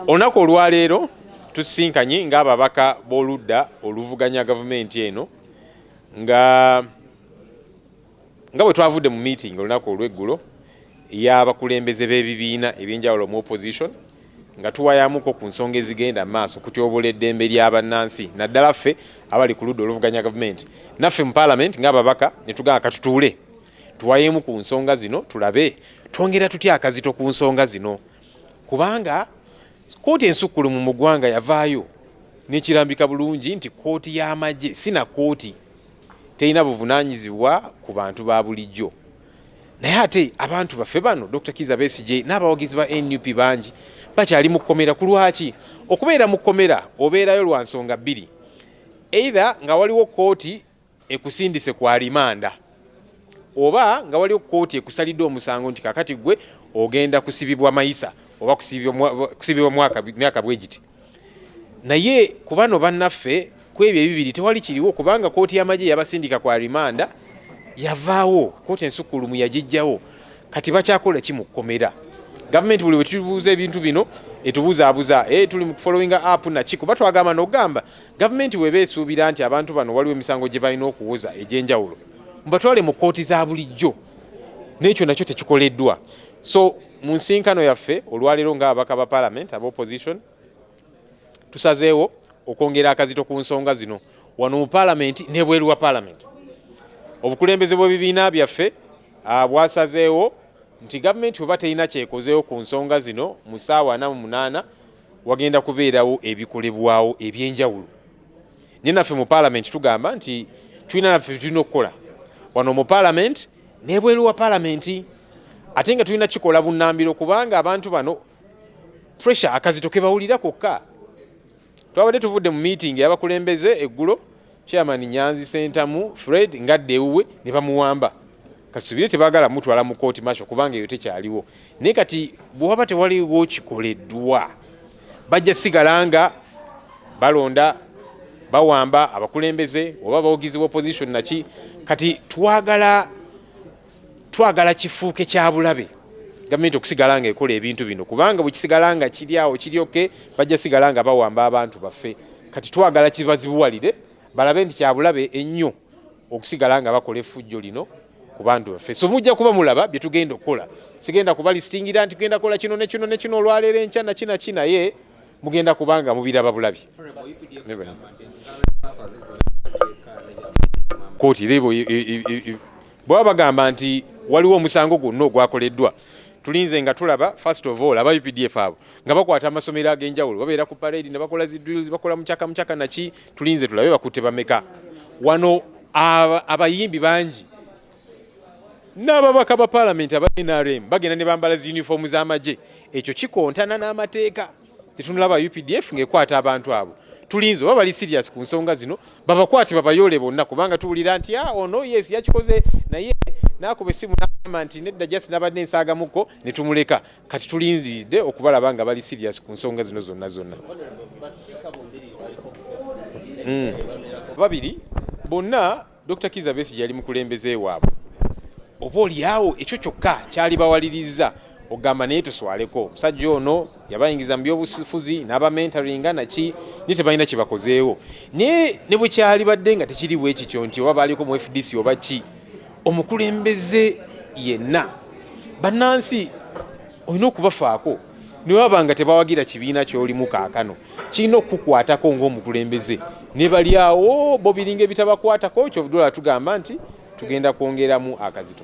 olunaku olwaleero tusisinkanye ng'ababaka b'oludda oluvuganya gavumenti eno nga nga bwe twavudde mu meeting olunaku olw'eggulo y'abakulembeze b'ebibiina ebyenjawulo mu opposition nga tuwayamuko ku nsonga ezigenda mu maaso kutyobola eddembe ly'abannansi naddala ffe abali ku ludda oluvuganya gavumenti naffe mu palamenti ng'ababaka ne tugamba katutuule tuwayemu ku nsonga zino tulabe twongera tutya akazito ku nsonga zino kubanga kooti ensukkulumu mu ggwanga yavaayo nekirambika bulungi nti kooti y'amagye si na kooti terina buvunanyizibwa ku bantu ba bulijjo naye ate abantu baffe bano dr kiza besigye n'abawagizi ba nup bangi bakyali mu kkomera ku lwaki okubeera mu kkomera obeerayo lwa nsonga bbiri either nga waliwo kooti ekusindise ku alimanda oba nga waliwo kkooti ekusalidde omusango nti kakati gwe ogenda kusibibwa mayisa oba kusibibwa myaka bwe giti naye ku bano bannaffe ku ebyo ebibiri tewali kiriwo kubanga kkooti y'amagye yabasindika ku alimanda yavaawo kkooti ensukkulumu yagijjawo kati bakyakola ki mu kkomera gavumenti buli bwe tubuuza ebintu bino etubuzaabuza e, tuli mu kufollowinga app naki kuba twagamba nogamba Gavumenti weba esuubira nti abantu bano waliwo emisango gye balina okuwuza egy'enjawulo mubatwale mu kkooti za bulijjo, n'ekyo nakyo tekikoleddwa. So mu nsinkano yaffe olwaleero ng'ababaka ba palamenti aba opposition tusazeewo okwongera akazito ku nsonga zino wano mu palamenti ne bweru wa palamenti. Obukulembeze bw'ebibiina byaffe ah, bwasazeewo nti gavumenti oba terina kyekozeewo ku nsonga zino mu ssaawa ana mu munaana wagenda kubeerawo ebikolebwawo ebyenjawulo naye naffe mu palamenti tugamba nti tulina naffe tulina okukola wano mu palamenti nebweru wa palamenti ate nga tulina kikola bunambiro kubanga abantu bano pressure akazito kebawulira kokka twabadde tuvudde mu meeting yabakulembeze eggulo Chairman Nyanzi Sentamu Fred ngadde ewuwe ne bamuwamba kati subire tebagala mutwala mu kooti masho kubanga eyo tekyaliwo naye kati bwewaba tewaliwo kikoleddwa bajja sigala nga balonda bawamba abakulembeze oba bawogizi wa opposition naki kati twagala twagala kifuuke kya bulabe gavumenti okusigala nga ekola ebintu bino kubanga bwekisigala nga kiri awo kiryoke bajja sigala nga bawamba abantu baffe kati twagala kibazibuwalire balabe nti kyabulabe ennyo okusigala nga bakola effujjo lino ku bantu baffe so mujja kuba mulaba bye tugenda okukola sigenda kuba lisitingira nti genda kola kino nekino nekino olwaleero enkya nakinaki naye mugenda kubanga mubiraba bulabi kooti rebo bwaba bagamba nti waliwo omusango gwonna ogwakoleddwa tulinze nga tulaba first of all aba updf abo nga bakwata amasomero ag'enjawulo babeera ku parade ne bakola zi drills bakola mucaka mucaka naki tulinze tulabe bakutte bameka wano abayimbi bangi n'ababaka ba palamenti aba nrm bagenda ne bambala zi uniform z'amagye ekyo kikontana n'amateeka tetunulaba updf ngaekwata abantu abo tulinze oba bali serious ku nsonga zino babakwate babayole bonna kubanga tuwulira nti a ah, ono oh yes yakikoze naye nakuba esimu nagamba nti nedda just nabadde ensaagamukko ne tumuleka kati tulinziridde okubalaba nga bali serious ku nsonga zino zonna zonna hmm. babiri bonna Dr. Kiza Besigye yali mukulembeze waabwe, oba olyawo ekyo kyokka kyali bawaliriza ogamba naye tuswaleko omusajja ono yabayingiza mu byobufuzi n'abamentaringa naki naye tebalina kyebakozeewo naye ne bwe kyali badde nga tekiri bwe kityo nti oba baaliko mu fdc oba ki omukulembeze yenna bannansi olina okubafaako newaba nga tebawagira kibiina kyolimu kaakano kirina okukukwatako ngaomukulembeze nebalyawo bo biringa ebitabakwatako kyovudola tugamba nti tugenda kwongeramu akazito